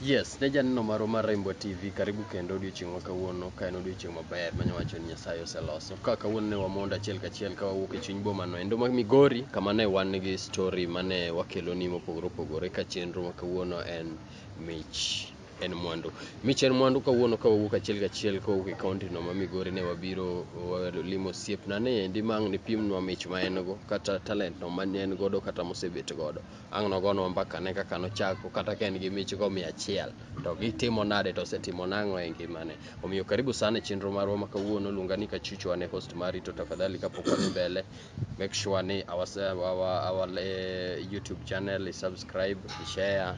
Yes, ne janeno marwa mar Rainbow TV, karibu kendo odiochieng' ma kawuono, ka en odiochieng' maber manya wacho ni Nyasaye oseloso. Ka kawuono ne wamondo achiel kachiel ka wawuok e chuny boma no endo ma Migori, kama ne wan gi story mane wakeloni mopogore opogore ka chenro ma kawuono en mich. en mwandu. Mich en mwandu kawuono ka wawuok achiel kachiel ka wawuok e kaunti no ma Migori ne wabiro limo osiepna ni endi ma ang' nipimnwa mich ma en go kata talent no ma ne en godo kata mosebet godo. Ang' nogonwa mbaka ne kaka nochako kata ka en gi mich go mia achiel to gitimo nade to osetimo nang'o e ngimane. Omiyo karibu sana e chenro marwa ma kawuono luonga ni Kachuchu an e host mari to tafadhali kapok wadhi mbele make sure ni our, our, our eh, YouTube channel is subscribe, share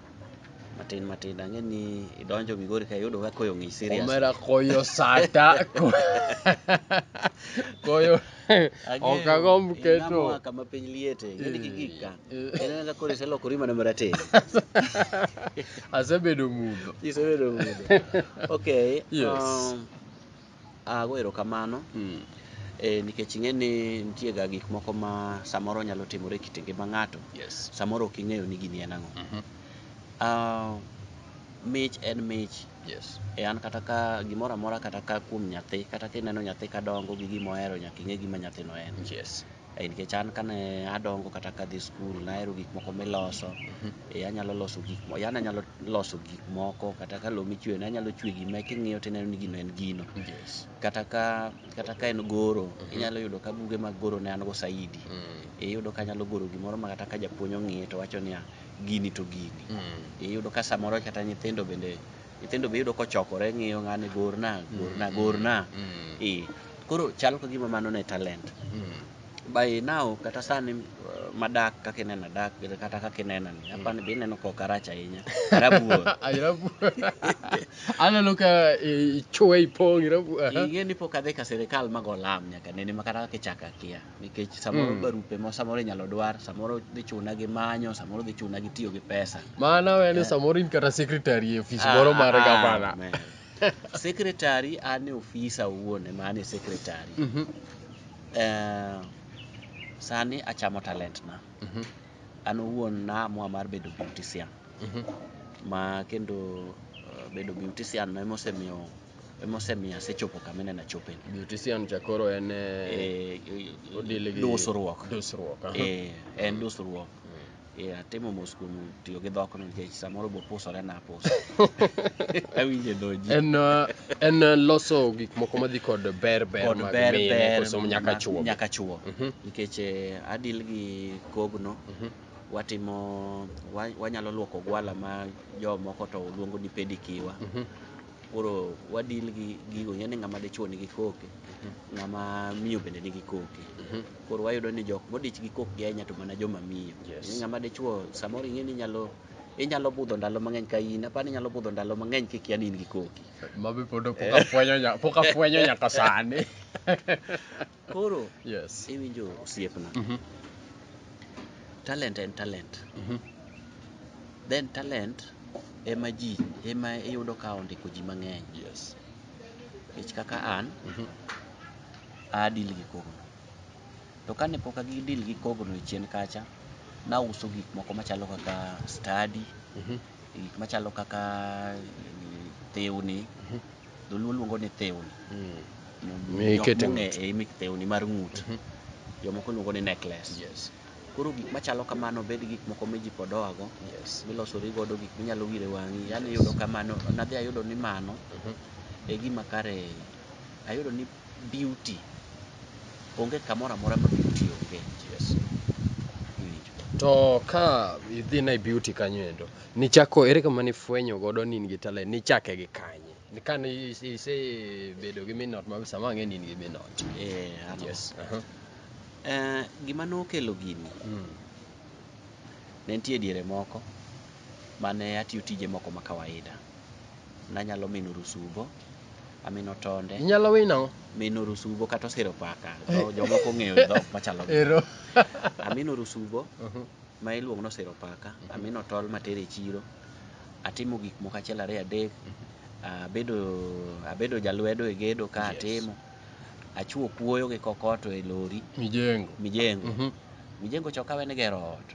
matin matin ang'e ni idonjo migori ka iyudo ka koyo ng'ich serious omera koyo sata koyo ok agomb keto kama piny liete ng'eni eh, kikika eh. en ka koro iselokori mana marateng' asebedo mudho isebedo mudho okay yes um, Ah, go erokamano. Mm. Eh, nikech ing'e ni nitie ga gik moko ma samoro nyalo timore e kit ngima ng'ato. Yes. Samoro ok ing'eyo ni gini en ang'o. Mm -hmm. Ah, mich en mich. Yes. E an kata ka gimoro amora kata ka kuom nyathi, kata kineno nyathi ka dongo gi gima ohero nyaka ing'e gima nyathino en. Yes. Ai nikech an kane adongo kata kadhi skul nahero gik moko miloso. E anyalo loso gik moko, yani anyalo loso gik moko kata ka lowo michweyo ne anyalo chwe gima king'iyo tineno ni gino en gino. Yes. Kata ka kata ka en goro, mm-hmm. inyalo yudo ka buge mag goro ne an go saidi. Mm. E iyudo ka anyalo goro gimoro ma kata ka japuonj ong'iye to wacho niya gini to gini. Mm. E iyudo ka samoro kata nyithindo bende nyithindo be iyudo kochokore ng'iyo ng'ani gorna gorna mm, gorna mm. i koro chal ka gima mano ne talent mm. by now kata sani uh, madak kaka ineno adak kata kaka ineno ni mm. apani be ineno kok arach ahinya arabuor aneno ka ichwe ipong' ing'e ni pok adhi ka sirikal mago lam nyaka nene ma kata kaka ichako akia nikech samoro Mm. barupe ma samoro inyalo dwar samoro dhi chuna gi manyo samoro dhi chuna gi tiyo gi pesa Mano en ni samoro in kata secretary e ofis moro mar Ah, gavana. man. secretary an e ofisa owuon ema an e secretary Mhm, Eh, sani achamo talent na mhm, an owuon naamua mar bedo beautician mhm. ma kendo eh, bedo beautician no emosemiyo emosemiyo asechopo kama ineno achope ni. Beautician cha koro en eh, eh, odili gi dusruok. Dusruok. aha. Eh, en dusruok. Mm. Eh, atimo mos kuom tiyo gi dhokno nikech samoro be opusore na apusa. Awinjo e dho ji. En eh, en eh, loso gik moko madhi kod ber ber Kod mag ber mine ber koso nyaka ma- chuo. Nyaka chuo. Mhm, Nikech eh, adil gi kogno mhm. watimo wa- wanyalo luoko gwala ma jomoko to luongo ni pedikiwa. Mhm. koro wadil gi gigo ing'e ni ng'ama dichuo nigi koke ng'ama miyo bende nigi koke koro wayudo ni jok modich gi kokgi ahinya to mana joma miyo Yes. Ni ng'ama dichuo samoro ing'e ni inyalo inyalo budho ndalo mang'eny ka in apani inyalo budho ndalo mang'eny kikia ni in gi koki Mabe pod pok afwenyo nya- pok afwenyo nyaka sani. Koro yes. iwinjo osiepna. Mm -hmm. Talent en talent. Mm -hmm. Then talent ema ji ema iyudo ka ondiko ji mang'eny. Yes. Nikech kaka an mm -hmm. adil gi kogno. To kane pok agidil gi kogno e chien kacha, nauso gik moko machalo kaka study, mm -hmm. gik machalo kaka eh, tewni, mm -hmm. dholuo luongo ni thewni Mikete jok mong'e ng'ut. e imik thewni mar ng'ut Mhm. jomoko luongo ni necklace yes koro gik machalo kamano bed gik moko ma ji pod oago yes milosori godo gik minyalo wire wang'i yani Yes. yudo kamano nadhi ayudo ni mano Mhm. e gima kare ayudo ni beauty onge kamoro amora ma beauty onge yes iwinjo to ka idhi na e beauty kanyo endo Nichako ere kama nifwenyo godo ni in gi talent? Nichake gi kanye? Ni kane ise- isebedo gi minot ma sama ang'e ni in gi minot. Eh, ano. Yes. aha. Eh, gima nokelo gini Mm. ne nitie diere moko mane atiyo tije moko ma kawaida nanyalo mino rusubo amino tonde Inyalo winy nang'o? mino rusubo kata osero paka Eh. Dho- jomoko ong'eyo dhok machalo gi- Ero. amino rusubo Mhm. ma iluongo ni osero paka, mm -hmm. amino tol matere e chiro, atimo gik moko achiel ariyo adek, mm -hmm. abedo, abedo jalwedo e gedo ka yes. atimo, achuo kuoyo gi kokoto e lori. Mijengo. Mijengo. Mm -hmm. Mijengo choka wen gero ot.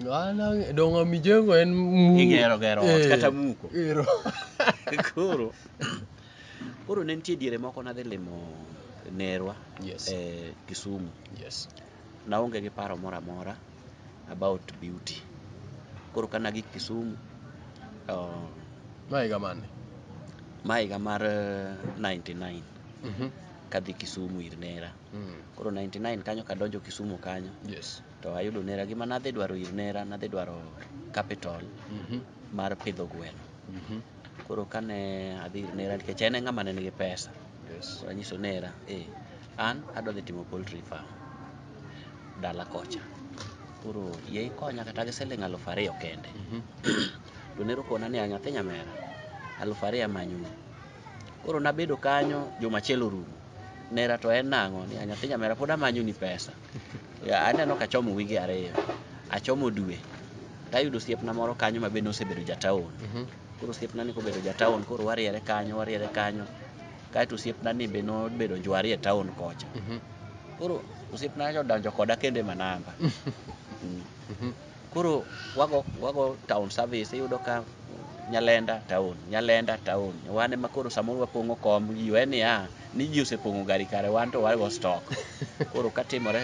Ana donga mijengo en muko. Igero gero ot eh, kata muko. Ero. Koro. Koro ne nitie diere moko nadhi limo nerwa yes. e eh, Kisumu. Yes. Naonge gi paro moro amora about beauty. Koro ka nagik Kisumu, uh, Ma higa mane? ma higa mar eh, 99 Mhm. kadhi Kisumu ir nera. Mm. Koro 99 kanyo kadonjo Kisumu kanyo Yes. to ayudo nera gima nadhi dwaro ir nera nadhi dwaro capital Mhm. mar pidho gweno. Mhm. koro kane adhi ir nera nikech en e ng'ama ne nigi pesa Yes. so anyiso nera eh, an adwa dhi timo poultry farm dala kocha koro yie ikonya kata gi siling alufu ariyo kende Mhm. to nero kona ni nyathi nyamera alufu ariyo amanyoni koro nabedo kanyo juma achiel orumo nera to en nang'o ni nyathi nyamera pod amanyoni pesa Ya, aneno ka achomo wige ariyo achomo dwe tayudo osiepna moro kanyo ma bende osebedo jataon Mhm. koro osiepna ni kobedo jataon koro wariere kanyo wariere kanyo kaeto osiepna ni be nobedo jwari e taon kocha Mhm. koro osiepna nyocha odonjo koda kendo e manamba Mhm. Koro wago wago town service iyudo ka Nyalenda town, Nyalenda town. Wan ema koro samoro wapong'o kom ji we niya ni ji osepong'o gari kare wan to wago stock. Koro ka timore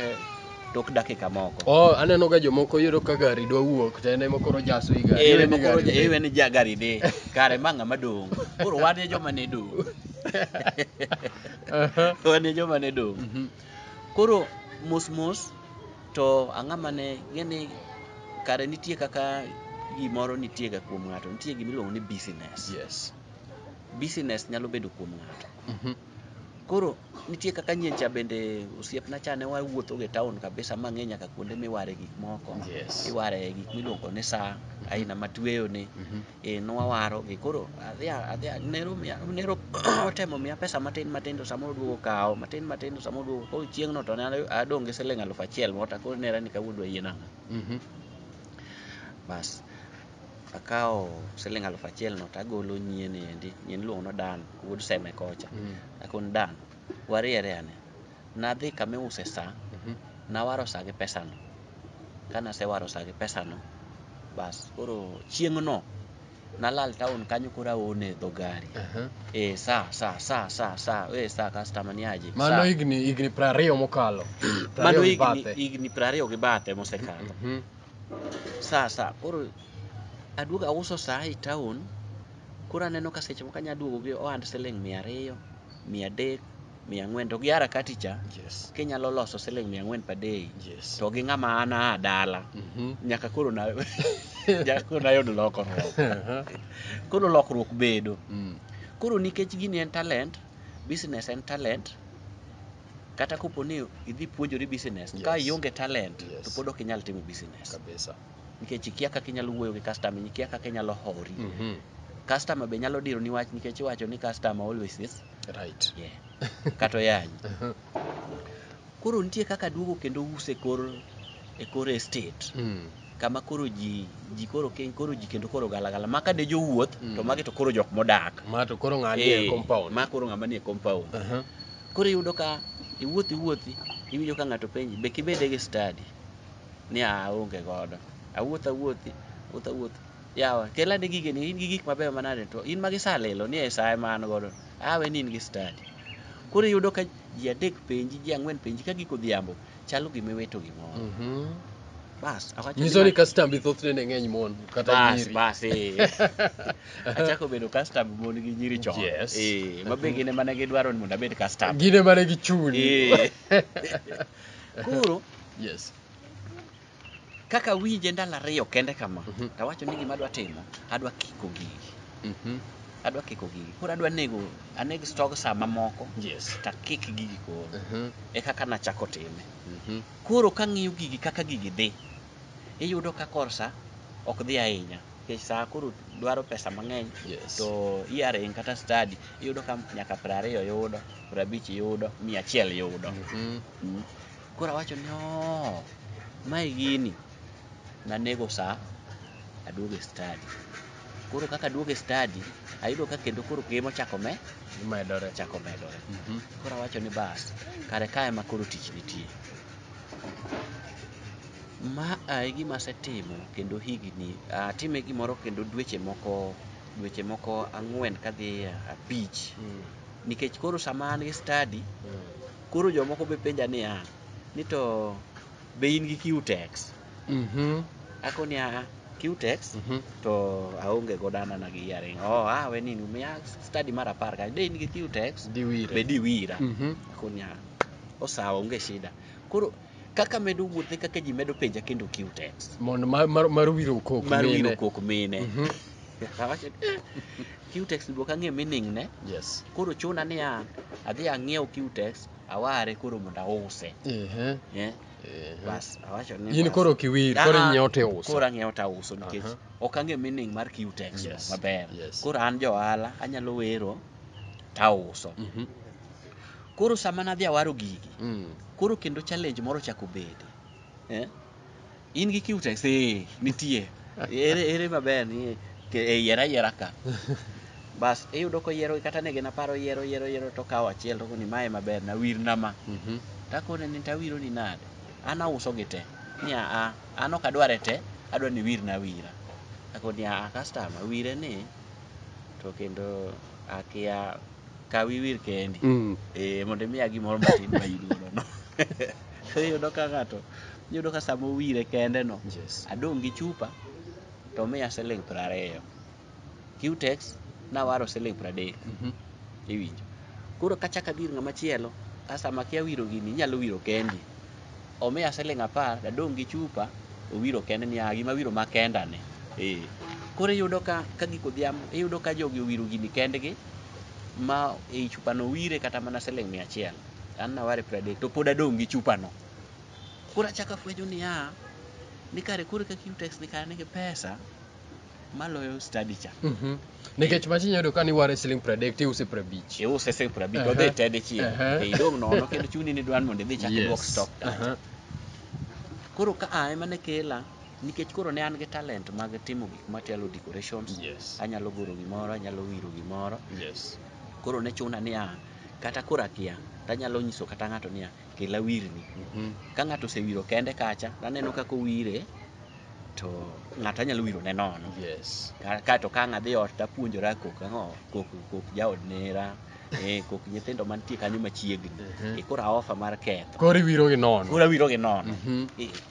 tok dakika moko. Oh, aneno ga jomoko yudo ka gari dwa wuok to en ema koro jaso i gari. Iwe ni koro iwe ni ja gari dhi kare ma ng'ama dong'. Koro wan e joma ne dong'. Wan e joma ne dong'. Mhm. Koro mos mos to ang'a mane ng'eni kare nitie kaka gimoro nitie ga kuom ng'ato nitie gima iluongo ni business yes business nyalo bedo kuom ng'ato mm -hmm. koro nitie kaka nyiencha bende osiepna cha ne wawuotho e town kabisa ma ng'e nyaka kuonde miware gik moko yes. iware gik miluongo ni saa aina matueyo ni mm -hmm. e nwawarogi koro adhi adhi nero miya nero otemo miya pesa matin matin to samoro duogo kawo matin matin to samoro duogo koro chieng'no to ne adong' gi siling alufu achiel mota koro nera ni kawuono dwa yiena ang'o Mhm. bas akawo siling alufu achiel no to agolo nyien endi nyien iluongo ni dan wuod seme kocha Mm. akon dan wariere ane Nadhi kama iuse sa, nawaro sa gi pesano. Ka nasewaro sa gi pesano, bas koro chieng'no nalal taon kanyo koro aone dho gari. Aha. Eh, sa, sa, sa, sa, sa, eh, sa, customer ni aje. Mano sa. higni higni piero ariyo mokalo. Piero Mano ariyo gi higni, bathe. higni piero ariyo gi bathe mosekalo. Mhm. Sa, sa, koro aduogo auso sa e taon, koro aneno ka seche moko anya duogo gi ohand siling' mia ariyo, mia adek, mia ang'wen to gi harakati cha Yes. kinyalo loso siling mia ang'wen per day Yes. to gi ng'ama an aa dala Mhm. nyaka koro na nyaka koro nayud lokruok Aha. koro lokruok bedo Mm. koro nikech gini en talent business en talent kata kopo ni idhi puonjori business ka Yes. ionge talent Yes. to pod ok inyal timo business Kabisa. nikech ikia kaka inyalo wuoyo gi customer ikia kaka inyalo hori Mhm. customer be nyalo diro ni wach nikech iwacho ni customer always is right yeah. kata oyany koro nitie kaka duogo kendo use kor e kor estate mm. kama koro ji ji koro keny koro ji kendo koro galagala ma ka de jowuoth mm. to magi to koro jok modak ma to koro ng'ani e eh, compound ma koro ng'ama ni e compound uh -huh. koro iyudo ka iwuothi iwuothi iwinjo ka ng'ato penji be kibede gi study ni a onge godo awuoth awuothi wuoth awuoth Yawa, kel ane gigeni, in gi gik mabeyo manade to in ma gisalilo ni e sa ema an godo. Awe ni in gi stadi. Koro iyudo ka ji adek penji, ji ang'wen penji ka giko odhiambo, chalo gima iwito gimoro. Mhm. Bas, awacho ni Nyiso ni ma- kastambi thothne ne ng'eny mon kata bas, nyiri. bas, eh. Achako bedo kastam mon gi nyiri chon. Yes. Eh, ma be gin ema ne gidwaro ni mondo abed kastam. Gine mane gi chuni. Eh. Koro Yes. kaka awinje ndalo ariyo kende kama Mhm. to awacho ni gima adwa timo adwa kiko gigi Mhm. adwa kiko gigi koro adwa nego aneg stog saa mamoko Yes. to akik gigi koro Mhm. e kaka nachako time Mhm. koro kang'iyo gigi kaka gigi dhi iyudo ka kor saa ok dhi ahinya nikech saa koro dwaro pesa mang'eny Yes. to earring kata stadi iyudo ka nyaka piero ariyo yudo piero abich yudo mia achiel yudo Mhm. Mm. Koro awacho ni oo, mae gini nanego sa aduogo e stadi. Koro kaka aduogo e stadi, ayudo ka kendo koro keye mochako me Medore. chako medore. Mhm. Koro awacho ni bas, kare ka ema koro tich nitie. Ma a e gima asetimo kendo higni, atime gimoro kendo dweche moko dweche moko ang'wen kadhi abich. Mm. Nikech koro sama an gi stadi, Mm. koro jomoko be penja niya ni to be in gi qtex Mhm. ako niya qtex Mhm. to aonge godo anana gi yaring oh ah we nini miya study mar apar ka de in gi qtex Diwire. be diwira Mhm. ako niya osawa onge shida koro kaka medo wuoth e kaka ji medo penja kendo kiw text mondo mar, mar, mar wiro kok mar mine. wiro kok mine Mhm. Awacho, "Eh, kiw text bok ang'e meaning ne yes koro chuna niya adhi ang'iew kiw text aware koro mondo ause Ehe, eh ehe. bas awacho ni in bas. koro kiwir koro Ah, ah, inyiewo tiuso koro ang'iewo tauso nikech Aha. ok ang'e meaning mar kiw text Yes, maber yes. koro an johala anyalo wero tauso Mhm. koro sama nadhi awaro gigi Mm. koro kendo challenge moro chako bede eh? in gi cutex eh, nitie ere, ere maber ni ke- e yiera yiera ka bas iyudo koyiero kata ne gin aparo yiero yiero yiero to kawo achiel to koni mae maber na wir na ma Mhm. takone ni tawiro ni nade an auso gi te ni aa an ok adware te adwa ni wir na wira akoni aa customer wire ni to kendo akia kaw iwir kendi Mm. eh, mondo imiya gimoro matin ma iluorono iyudo ka ng'ato iyudo ka sama owire kende no Yes. adong' gi chupa to miya siling' piero ariyo qtex nawaro siling' piero adek Mhm. iwinjo koro kachak adhi ir ng'ama chielo a sama kia wiro gini inyalo wiro kendi omiya siling' apar dadong' gi chupa owiro kende ni "Ah, gima wiro ma kendani eh. koro iyudo ka ka gik odhiambo iyudo ka jogi owiro gini kendgi ma ei chupano wire kata mana siling' mia achiel an naware pradek to pod adong' gi chupano koro achako afwenyo niya ni kare koro kaka utex ni kare nigi pesa maloyo study cha Mhm. nikech machi nyayudo ka niware siling' pradek tiuse prabich iuse siling' prabich Aha. odhi ted chieng' Aha. e idong' nono kendo chuni ni dwan mondo idhi chak iduok stock kacha koro ka a ema ne kela Nikech koro ne an gi talent mag timo gik machalo decorations, yes. anyalo goro gimoro, anyalo wiro gimoro. Yes. Koro ne chuna niya, kata koro akia, tanyalo nyiso kata ng'ato niya, kela wirni. Mm -hmm. Ka ng'ato osewiro kende kacha, naneno kaka owire, to ng'ato anyalo wiro ne nono yes. kaeto ka ang' adhi ot tapuonjora kok ang'o kok, kok jaod nera eh, kok nyithindo mantie kanyo machiegni uh mhm. -huh. e, koro aofa mar ketho koro iwiro gi nono koro awiro gi nono uh mhm. eh. -huh.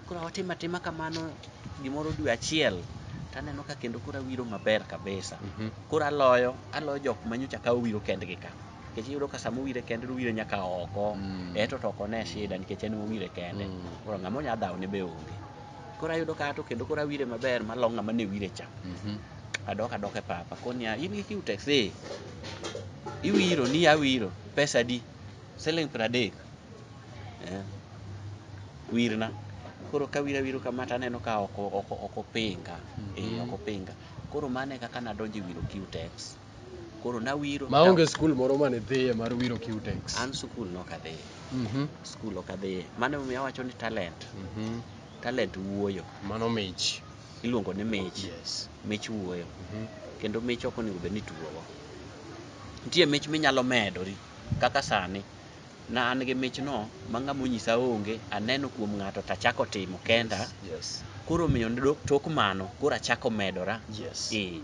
Koro watimo atima kamano gimoro dwe achiel to aneno ka kendo koro awiro maber kabisa. Mhm. Koro aloyo, aloyo jok ma nyocha kawo wiro kendgi ka. Nikech iyudo ka sama owire kende to owire nyaka oko. Mm. Eto to oko ne shida nikech en owire kende. Mm. Koro ng'ama onya dhawo ne be onge. Koro ayudo ka ato kendo koro awire maber malo ng'ama ne wire cha. Mhm. Adok adok e papa. Koni ya, in gi kiu taxi. Iwiro ni awiro. Pesa di? Siling pradek. eh, wirna koro ka wira wiro kama to aneno ka ok o- ok- ok opinga eh, Mhm. ok opinga koro mano e kaka nadonjo e wiro Q-Tex koro nawiro maonge skul moro mane dhiye mar wiro Q-Tex an skul nok adhiye Mhm, skul ok adhiye mano emomiyo awacho ni talent mhm. talent wuoyo mano mich iluongo ni mich yes mich wuoyo Mhm, kendo mich ok onego bed ni tuowa nitie mich minyalo medori kaka sani Na an gi michno ma ng'ama onyisa onge, aneno kuom ng'ato to achako timo kenda. Yes. Koro omiyo dok- tok mano, koro achako medora. Yes. Eh,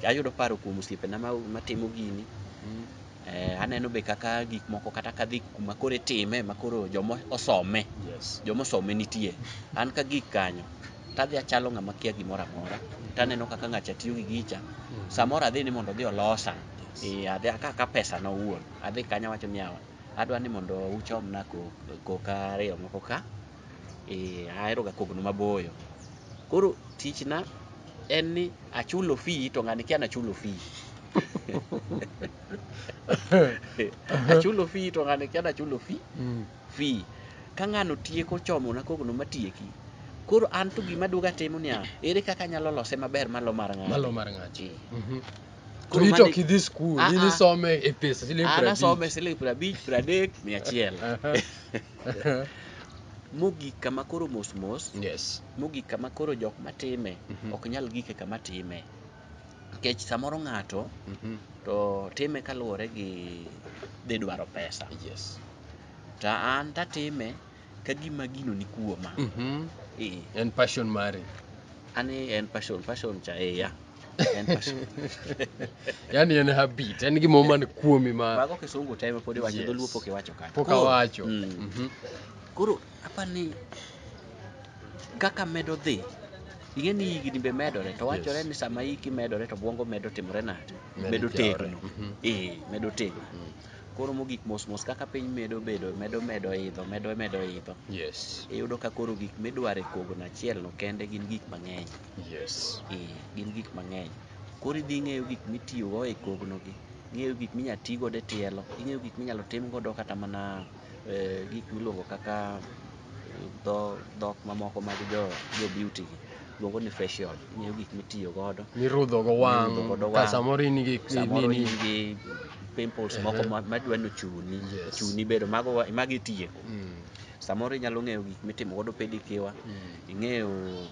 ayudo paro kuom osiepena ma- matimo gini. Mm. Eh, aneno be kaka gik moko kata kadhi kuma koro itime ma koro joma osome, Yes. joma osome nitie. An ka gik kanyo, tadhi achalo ng'ama kia gimoro amora. Taneno kaka ng'acha tiyo gi gicha. Samoro adhi ni mondo odhi olosa. Yes. Eh, adhi aka ka pesana owuon. adhi kanyo awacho niya, adwa ni mondo uchomna koka ariyo moko ka, ee, aheroga kogno maboyo. Koro tichna en ni achulo fee to ng'ani kia nachulo fee. Achulo fee to ng'ani kia nachulo fee, Mm. fee. Ka ng'ano tieko chomona kogno matieki, koro an to gima aduogo atimo niya, ere kaka anyalo lose maber malo mar ng'ani? Malo mar ng'ato. Ee. Mhm. To Koro ito mane- kidhi skul, Ah, in ah. isome e pesa siling' an piero asome abich. siling' piero abich piero adek mia achiel Aha. mogik kama koro mos mos Yes. mogik kama koro jok matime Mhm. ok nyal gike kama time nikech samoro ng'ato Mhm. to time kaluwore gi dhi dwaro pesa Yes. to an tatime ka gima gino ni kuoma Mhm. Eh, En passion mari. an en passion passion cha eya En passion. yani en habit en gima man kuomi ma Mago kisungu time pod iwacho Yes. dholuo pok iwacho kanyo. pok awacho Mm. Mhm. Koro apa ni kaka medo dhi ing'e ni higni be medore to wachore Yes. ni sama hiki medore to bwongo medo timore nade Medo medo jawore. tegno Mhm. ee medo tegno Mm. koro mogik mos mos kaka piny medo bedo medo medo idho medo medo idho yes iyudo ka koro gik midwaro e kogono achielno kende gin gik mang'eny Yes. Eh, gin gik mang'eny. Koro idhi ing'eyo gik mitiyogo e kognogi, ing'eyo gik minya ti godo e tielo, ing'eyo gik minyalo tim godo kata mana eh, gik miluongo kaka eh, dho dhok mamoko mag jo jo beauty gi luongo ni facial, ing'eyo gik mitiyo godo. Mirudho go wang'. Mirudho godo Ka wang'. samoro in gi Samoro nini. in gi pimples moko Ehe. ma- madwa ni ochuni, Yes. chuni bedo mago wa- mago itieko. Mm, Samoro inyalo ng'eyo gik mitimo godo pedicure, mm. ing'eyo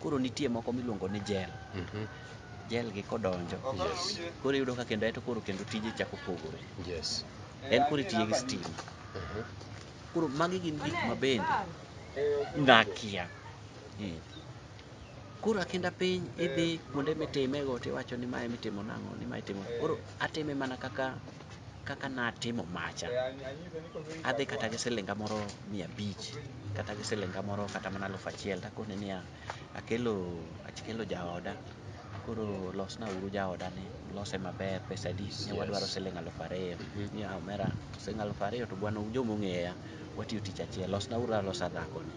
Koro nitie moko miluongo ni jel. Mhm. Jel gi kodonjo. Yes. Koro iyudo ka kendo eto koro kendo tije chako pogore. Yes. En koro itiye gi stima. Mhm. Koro magi gin gik ma bende ngakia. Eh. Koro akinda piny idhi kuonde mitime go tiwacho ni mae mitimo nang'o ni mae itimo. Koro atime mana kaka kaka natimo macha, adhi kata gi silinga moro mia abich kata gi silinga moro kata mana alufu achiel takone niya, akelo akelo jaoda koro losna uru jaoda ni lose maber pesa adi ne wadwaro siling alufu ariyo ni omera siling alufu ariyo to bwana un joma ong'eya watiyo tich achiel losna uru alosa dhakoni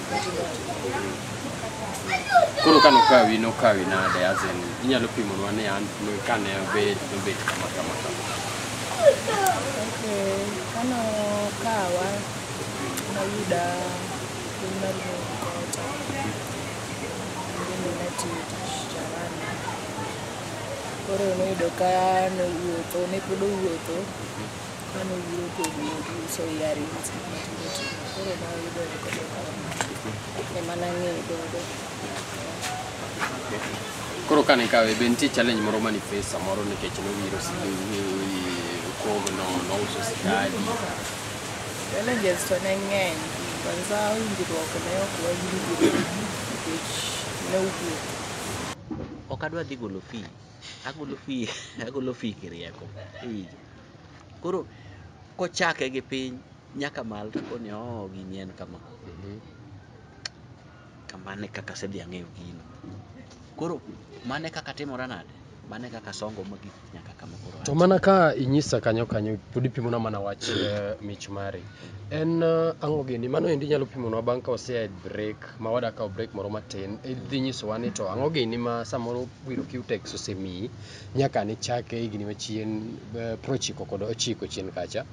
Koro ka nokawi nokawi nade as in inyalo pimonwa ni an kane obet nobet kama kama kama. Okay, kano kawa nayuda piny mar Bogota ndimi natiyo tich jarani koro noyudo ka nowuotho ne pod owuotho Mano obiro kodi uso yari matindo tindo. Koro ma oyudo ni kodo kawo. Ema nang'eyo godo. Koro kane ikawe be nitie challenge moro mani face samoro nikech nowiro kom no nouso sigadi. Challenges to ne ng'eny. Kwanza winjruok ne ok wawinjre nikech ne owuok. Ok adwa dhi golo fee. agolo fi agolo fi kirieko iwinjo koro kochake gi piny nyaka mal to koni oh gini en kama Mhm. kamane kaka asedhi ang'eyo gino koro mane kaka timora nade mane kaka songo mogik nyaka kama koro to mana ka inyisa kanyo kanyo pod ipimona mana wach eh, mich mari en eh, ang'o gini mano endi inyalo pimonwa bang' ka wasea e break ma wada kawo break moro matin idhi nyisowa ni to ang'o gini ma samoro Wiro Q-Tex osemiyi nyaka ne chake higni machien eh, prochiko kod ochiko chien kacha.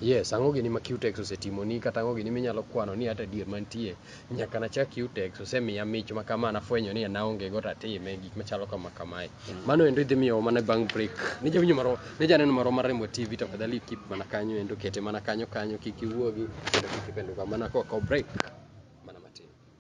Yes, ang'o gini ma Q-Tex osetimoni kata ang'o gini minyalo kwano ni hata adier mantie nyaka nachak Q-Tex osemiya mich ma kama nafwenyo ni naonge go tatime gik machalo kama kamae. Mano endo idhi miyo mana bang' break. Ne jawinjo marwa, ne janeno marwa mar Rembo TV tafadhali keep mana kanyo endo kete mana kanyo kanyo kik iwuogi kendo kik ipenduka mana kok break.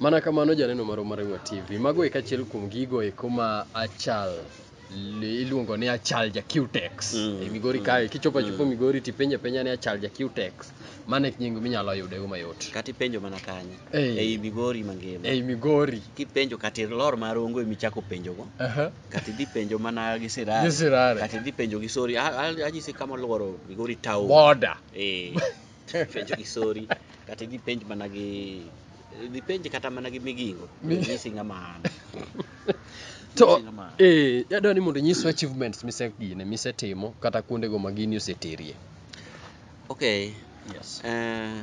Mana kamano janeno marwa mar Rangwa TV. Mago e kachiel kuom gigo eko ma achal li- iluongo ni achal ja Qtex Mm. e Migori kae kichopo achopo Migori tipenjo apenja ni achal ja Qtex mano e nying minyalo yudego mayot kata ipenjo mana kanye Ei. ei migori mangima ei Migori kipenjo kata ilor mar ongo emi chako penjogo Aha. kata idhi penjo mana gi Gi sirare Sirare. kata idhi penjo gi sori A- a- anyisi kama olworo migori town border Eh. penjo gi sori kata idhi penj mana gi idhi penj kata mana gi migingo nyisi ng'ama an to eh yadwa ni mondo nyiswa achievements misegine misetimo kata kuondego ma gini oseterie okay yes uh,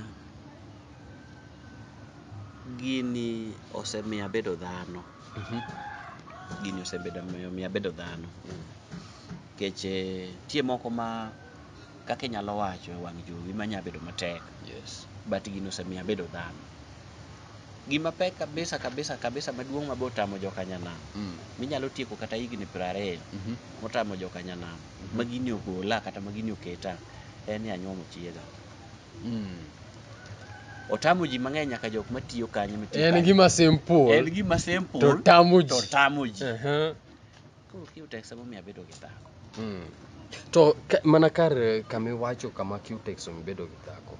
gini osemiyo abedo dhano mm -hmm. gini osebedo miyo abedo dhano mm. keche tie moko ma kaka inyalo wacho e wang' jowi ma nya bedo matek yes but gino osemiyo abedo dhano gima pek kabisa kabisa kabisa maduong' mabe otamo jokanyanam mm. minyalo tieko kata higni piero ariyo mm -hmm. motamo jokanyanam mm -hmm. ma gini ogola kata ma gini oketa en ni anyuomo chiega mm. otamo ji mang'eny nyaka jok matiyo kanyo en gima simple en gima simple to tamo ji to tamo ji uh -huh. Koro Q-Tex emomiyo abedo gi dhako. Mm. To ka, mana kar eh, kama iwacho kama Q-Tex omi bedo gi dhako.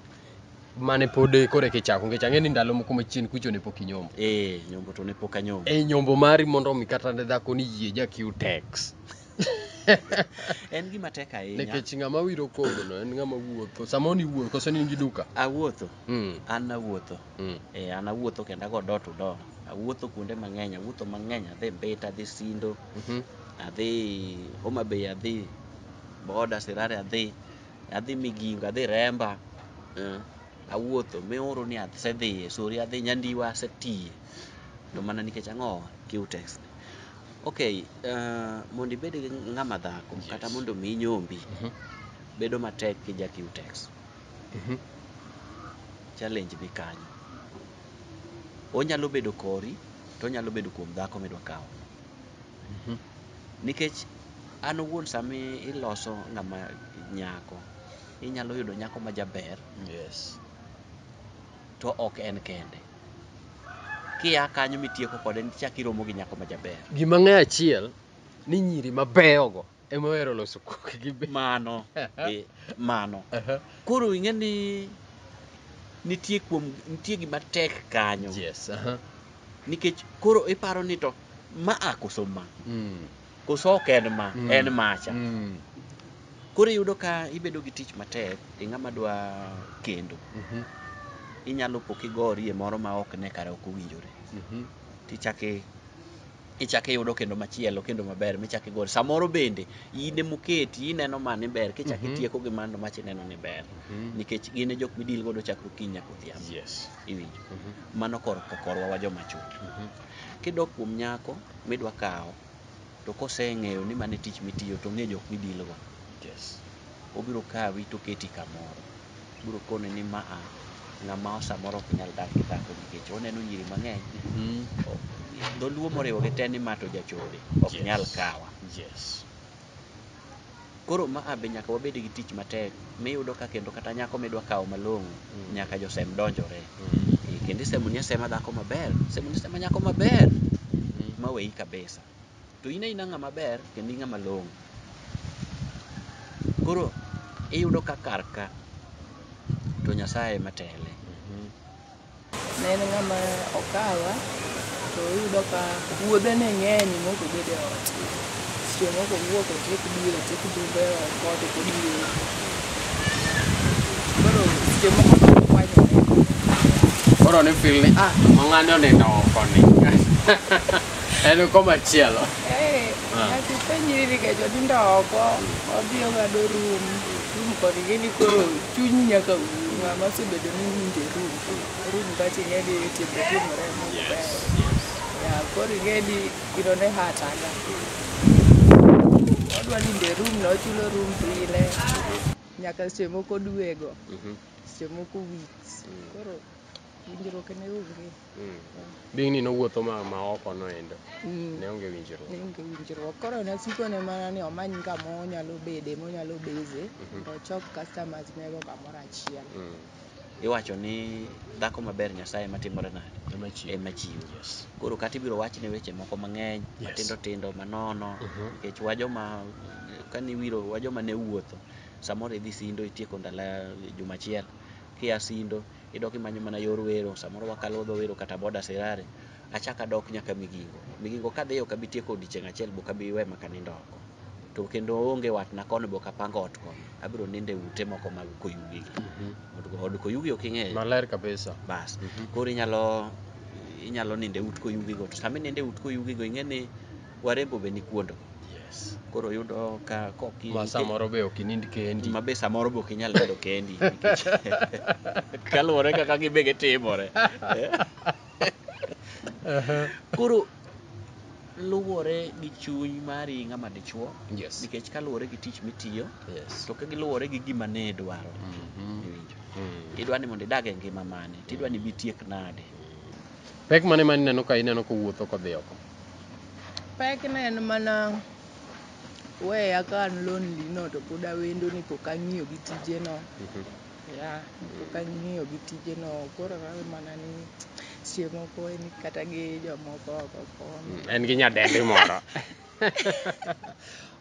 Mane pod eh, koro kichako ngech ang'e ni ndalo moko machien kucho ne pok inyombo. Eh, nyombo to ne pok anyombo. E nyombo mari mondo omi kata ne dhako ni yie ja Q-Tex. En gima tek ahinya. Nikech ng'ama wiro kogono en ng'ama wuotho. Samoro ni wuotho koso ni in gi duka. Awuotho, Mm. an awuotho. Mm. Eh, an awuotho kendo ago door to door. Awuotho kuonde mang'eny, awuotho mang'eny, adhi Mbita, adhi Sindo, Mhm. adhi Homa Bay, adhi Boda, Sirare adhi, adhi Migingo, adhi Remba, Eh. awuotho mioro ni asedhiye, Sori adhi Nyandiwa asetiye. To mana nikech ang'o? Qtex. Okay, eh, mondo ibed gi ng'ama dhako kata Yes. mondo mi nyombi Mhm. bedo matek kija Qtex. Challenge ni kanyo. Onyalo bedo kori, to onyalo bedo kuom dhako midwa kawo no. Nikech an owuon sama iloso ng'ama nyako, inyalo yudo nyako ma jaber, Yes. to ok en kende. Kia kanyo mitieko kode, nichak iromo gi nyako ma jaber. Gima ng'e achiel ni nyiri mabeyogo ema ohero loso koki gi be mano eh, mano Aha. koro ing'e ni nitie kuom nitie gima tek kanyo yes aha. nikech koro iparo ni to ma a koso ma Mm, koso ok en ma Mm. en macha mm, koro iyudo ka ibedo gi tich matek e ng'ama dwa kendo mhm, inyalo po kigorie moro ma ok ne kare ok owinjore mhm. tichake kichako iyudo kendo machielo kendo maber michako igol samoro bende in ema oketi ineno ma ni ber kichako Mhm. itieko gi mano mach ineno ni ber Mhm. nikech gin e jok midil godo chakre okinyi nyaka odhiambo Yes. iwinjo Mhm. mano kor korwa wa joma chwo Mhm. kidok kuom nyako midwa kawo to koseng'eyo ni mane tich mitiyo to ong'e jok midilgo Yes. obiro kawi to oketi kamoro Biro koni ni ma a ng'ama samoro ok nyal dak gi dhako nikech oneno nyiri mang'eny. Dholuo moriwo gi te ni ma to jachode ok nyal kawa. Koro ma a be nyaka wabed gi tich matek miyudo ka kendo kata nyako midwa kawo malong'o nyaka josem donjore. Kendo isemoni asema dhako maber, isemoni asema nyako maber maweyi kabisa. to in aina ng'ama ber kendo in ng'ama long'o. Koro iyudo ka kar ka to Nyasaye ema tele. Ne en ng'ama okawa to iyudo ka wuodhe ne ng'eny mok obed e ot. Seche moko owuok otiek diel, otiek dumbe e ot kod kod diel. Koro seche moko to okwanyo ne. Koro ni feel ni ah, mang'ani onindo oko ni. En koma chielo. Eh, Ah. ati penjri ni kecho nindo oko, odhi ong'ado room, room kod gini koro chuny nyaka um, ng'ama osebedo ni winje room, room kachi ing'e ni timbe timore e Mungu ber. Ya, koro ing'e ni gino ne hurt aga. Odwa ninde room na ochulo room pile, nyaka seche moko dwego, seche moko weeks, koro winjruok ne onge. Mm. Bing ni nowuotho ma ma oko no endo. Mm. Ne onge winjruok. Ne onge winjruok. Koro ne siko ne mana ni omany kama onyalo bede, monyalo beze, mm -hmm. to chok customers mego kamoro achiel. Mm. Iwacho ni dhako maber Nyasaye matimore nade? Ema chiwo. Ema chiwo. Yes. Koro kata ibiro wach ne weche moko mang'eny, yes. matindo tindo, manono, mm -hmm. nikech wajoma kani wiro wajoma ne wuotho, samoro idhi sindo itieko ndala juma achiel, kia sindo idok imanyo mana yor wero samoro wakalo dho wero kata boda serare achaka dok nyaka migingo migingo kadhiyo ok abi tieko odiechieng' achiel bok abi we maka nindo oko to kendo onge watna kono bok apango ot kono abiro nindo e ute moko mag koyugi gi Od- od koyugi ok ing'eyo maler kabisa bas koro inyalo inyalo nindo e ut koyugigo to sama inindo e ut koyugigo ing'e ni warembo be nikuondo yes koro yudo ka koki ma samoro be ok inind kendi ma be samoro be ok inyal nindo kendi nikech kaluwore kaka gibe gitimore koro luwore gi chuny mari ng'ama dichuo yes nikech kaluwore gi tich mitiyo yes to ka giluwore gi gima ne idwaro Mhm. iwinjo Mm. tidwa ni mondo idag e ngima mane tidwa ni bitiek nade pek mane ma ineno ka ineno kowuotho kodhi oko Pek ne en mana weya ka an lonely no to pod awendo ni pok ang'iyo gi tije no. Yeah, pok ang'iyo gi tije no. Koro awe mana ni seche moko en kata gi jomoko oko kono. En gi nyadendi moro.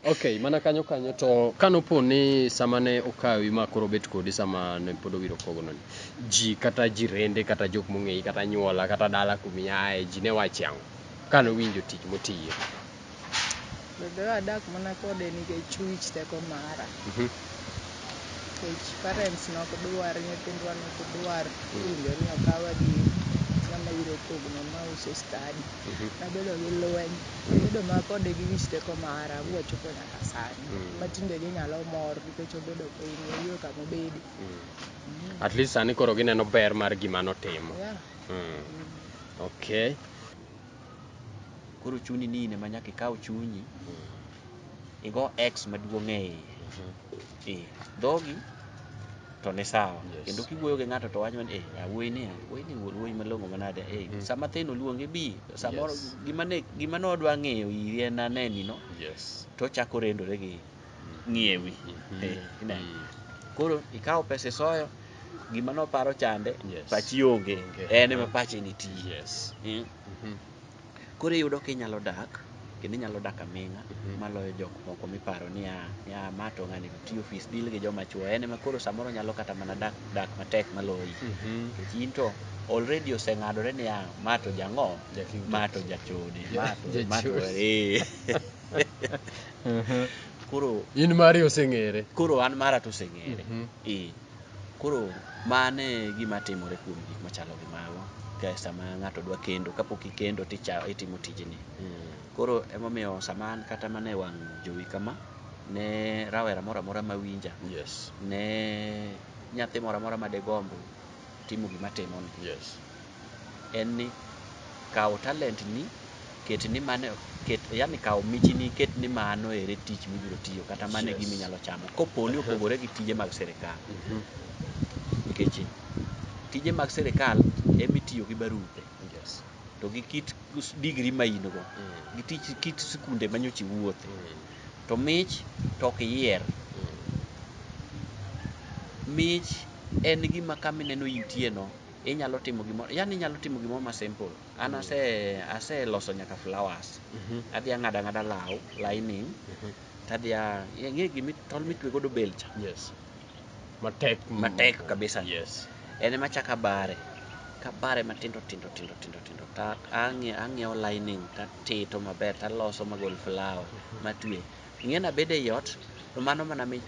Ok, mana kanyo kanyo to kanopo ni sama ne okawi ma koro bet kodi sama ne pod owiro kogono ni ji kata jirende kata jok mong'eyi kata nyuola kata dala kumiaye ji ne wachi ang'o kane owinjo tich motiyo? Bebe adak mana kode nikech wich teko mara. Mhm. nikech parents nok dwar, nyithindwa nok dwar winjo ni okawa gi ng'ama ibiro kogno ma uso study. Nabedo gi lweny, abedo ma kode gi wich teko mara ma wachopo nyaka sani. Ma tinde ginyalo mor nikech obedo piny, oyudo kama obede. At least sani koro gineno ber mar gima notimo. Yeah. Mm. Okay. Koro chuni ni in ema nyaka ikaw chunyi igo x maduong' e iye e dhogi to ni sawa Yes. kendo kiwuoyo gi ng'ato to wacho ni eh awuoyi ni awuoyi ni wuod wuoyi malong'o manade eh Mm. sama thin oluonge bi samoro Yes. gima ne gima ne odwa ng'eyo iri en aneni no Yes. to ochako rendore gi ng'iewi Mhm. Eh, ine. Mm. koro ikawo pesa isoyo gima noparo chande Yes. pachi onge Onge. en ema pache nitie Yes. Mm. Mhm. Koro iyudo ka inyalo dak kendo inyalo dak aming'a maloyo jok moko miparo ni ah, ni ah, ma to ng'ani tiyo ofis deal gi joma chwo en ema koro samoro nyalo kata mana dak dak matek maloyi nikech in to already oseng'adore ni ah, ma to jang'o Jaking ma to jachode ma to ma to Jachode. eh. koro in mari oseng'ere koro an mara to oseng'ere Mhm. eh Koro mano e gima timore kuom gik machalo gi mago ka sama ng'ato dwa kendo, kapok ikendo to icha- itimo tijni. Koro emomiyo sama an kata mana e wang' jowi kama, ne rawera moro amora ma winja, Yes. ne nyathi moro amora ma degomb timo gima atimoni, Yes. en ni kaw talent ni ket ni mano ket yani kaw michi ni ket ni mano ere tich mibiro tiyo kata mano yes. gimi nyalo chamo kopo ni opogore gi tije mag sirikal mm -hmm. nikech tije mag sirikal emi tiyo gi barupe yes. to gi kit digri ma in go mm. gi tich kit sikunde ma nyochi wuothe mm. to mich to ok yier mm. mich en gima kamineno intie no inyalo timo gimoro yani inyalo timo gimoro ma simple an mm. ase aseloso nyaka flowers mm -hmm. adhi ang'ada ng'ada law lining mm -hmm. tadhi ang'e gimi tol mitwe godo belcha yes matek matek kabisa yes en ema chaka bare kabare matindo tindo tindo tindo tindo ta ang'iewo lining tatito maber taloso magol flower mm-hmm. matwe ing'e na bede ei ot to mano mana mi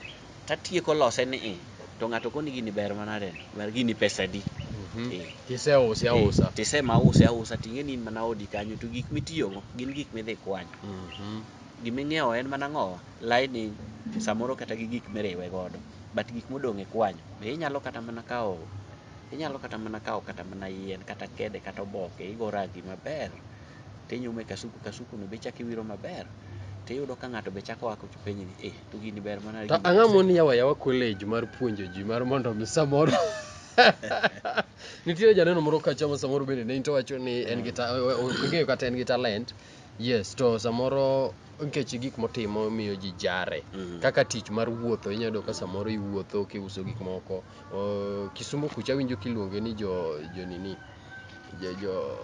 tatieko lose ni i to ng'ato koni gini ber mana de ber gini pesa di mhm. eh. tise usi eh, ausa e, tise ma usi ausa ting'e ni in mana odi kanyo to gik mitiyogo gin gik midhi kwanyo mhm. giming'iewo en mana ng'owa laini samoro kata gi gik miriwe godo but gik modong' e kwanyo be inyalo kata mana kawo Inyalo kata mana kawo kata mana yien kata kede kata oboke igo rangi maber tinyume kasuku kasuku no be chak iwiro maber tiyudo ka ng'ato be chako ako penyi ni eh to gini ber mana to ang'a moni yawa yawa college mar puonjo ji mar mondo mi samoro nitie janeno moro kacha ma samoro bende ne into wacho ni en gi ta- o- o- ong'eyo kata en gi talent Yes, to samoro nikech gik motimo miyo ji jare. Mm. Kaka tich mar wuotho, inyalo yudo ka samoro iwuotho kiuso gik moko. Uh, Kisumu kucha winjo kiluonge ni jo jo nini? Jo jo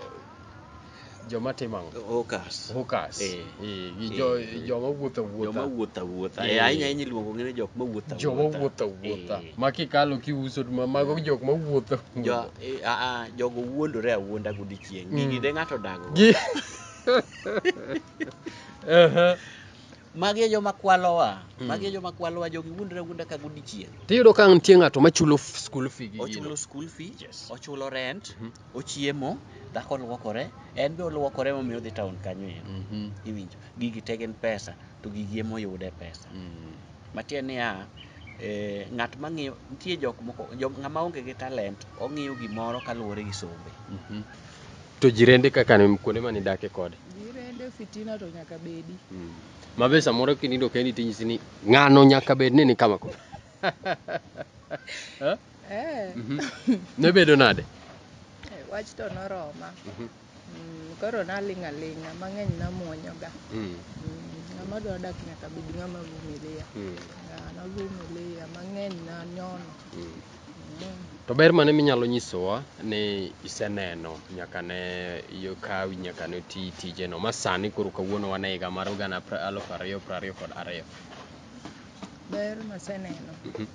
joma timo ang'o? Hawkers. Hawkers. Eh. Eh, gi jo Eh. joma wuotho wuotha. Joma wuotha wuotha. Eh. Eh, ahinya ahinya iluongo ng'e ni jok ma wuotha wuotha. Joma wuotho wuotha. Eh. Ma kikalo kiuso ma mago jok ma wuotho. Jo, eh, ah, ah, jogo wuondore awuonda godichwo. chieng' Mm. gigi de ng'ato odag go. Gi- Aha. magi e joma kwalowa Mm. magi e joma kwalowa jogi wuondre wuonda ka godichieng' Tiyudo ka nitie ng'ato machulo f- school fee gi ochulo gino. school fee Yes. ochulo rent Mhm. ochiemo dhako olwokore en be olwokore momiyo odhi town kanyo ero Mhm. iwinjo gigi te gin pesa to gigi emoyude pesa Mm. matiende niya eh, ng'at ma ng'iyo nitie jok moko jok ng'ama onge gi talent ong'iyo gimoro kaluwore gi sombe Mhm. to jirende kaka ni kuonde mane idake kode Jirende fitina to nyaka bedi. mabe samoro kinindo kendi tinyisi ni ng'ano nyaka bed ni ni kama kama Eh, ne bedo nade wach to noroma. Mhm. Mm, koro naling' aling'a, mang'eny namuonyoga. Mm. Mm, ng'ama dwa dak nyaka bed ng'ama vumilia. Mm. Yeah, navumilia, mang'eny nanyono. Mm. Mm. To ber mane minyalo nyisowa ni iseneno nyaka ne yokawi nyaka ne ti tijeno ma sani koro kawuono wane higa mar gana aluf ariyo piero ariyo kod ariyo? Ber maseneno. Mm -hmm.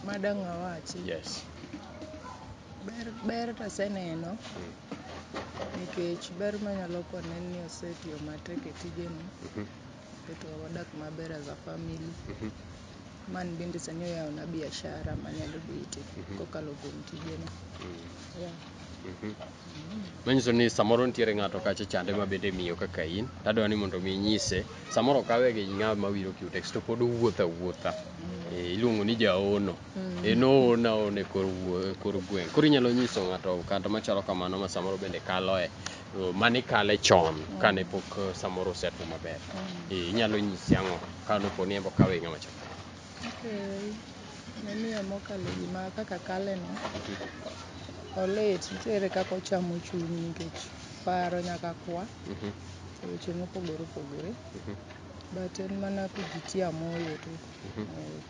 Madang' awachi. Yes. Ber ber to aseneno nikech ber manyalo kone en ni osetiyo matek e tijeni oketo wadak maber as a family man bende sani oyawona biashara manyalo bete kokalo kuom tijeni yeah. manyiso ni samoro nitiere ng'ato kacha chande ma bende miyo kaka in tadwa ni mondo mi inyise samoro kawe gi ng'a mawiro cutex to pod owuotho awuotha Eh, iluongo ni jaono e noho naho ne kor wuo- kor gweng' koro inyalo nyiso ng'ato kata machalo kamano ma samoro bende kaloe eh, mane kale chon kane pok eh, samoro osetwo maber Eh, inyalo nyisi ang'o ka nopo ni embo kawe ng'ama chon Okay. Namiyo mokalo gima kaka kaleno olit nitiere kaka ochamo chunyi nikech paro nyaka kwa Mhm, e weche mopogore opogore mhm. but en mana kujitia moyo tu